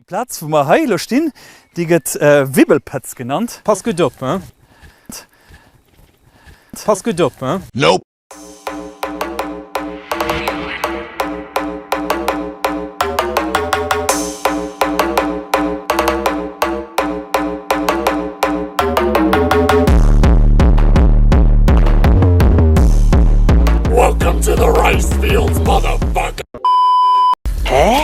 D'Plaz wou mer hei elo stinn, déi gëtt Wibbelpëtz genannt. Pass gutt op, hein? Pass gutt op, hein? Nope! Welcome to the Rice Fields, motherfucker! Hä?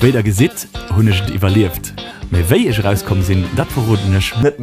Wéi der gesitt hunn ech et iwwerlieft, mee wéi ech erauskomm sinn, dat verroden ech net.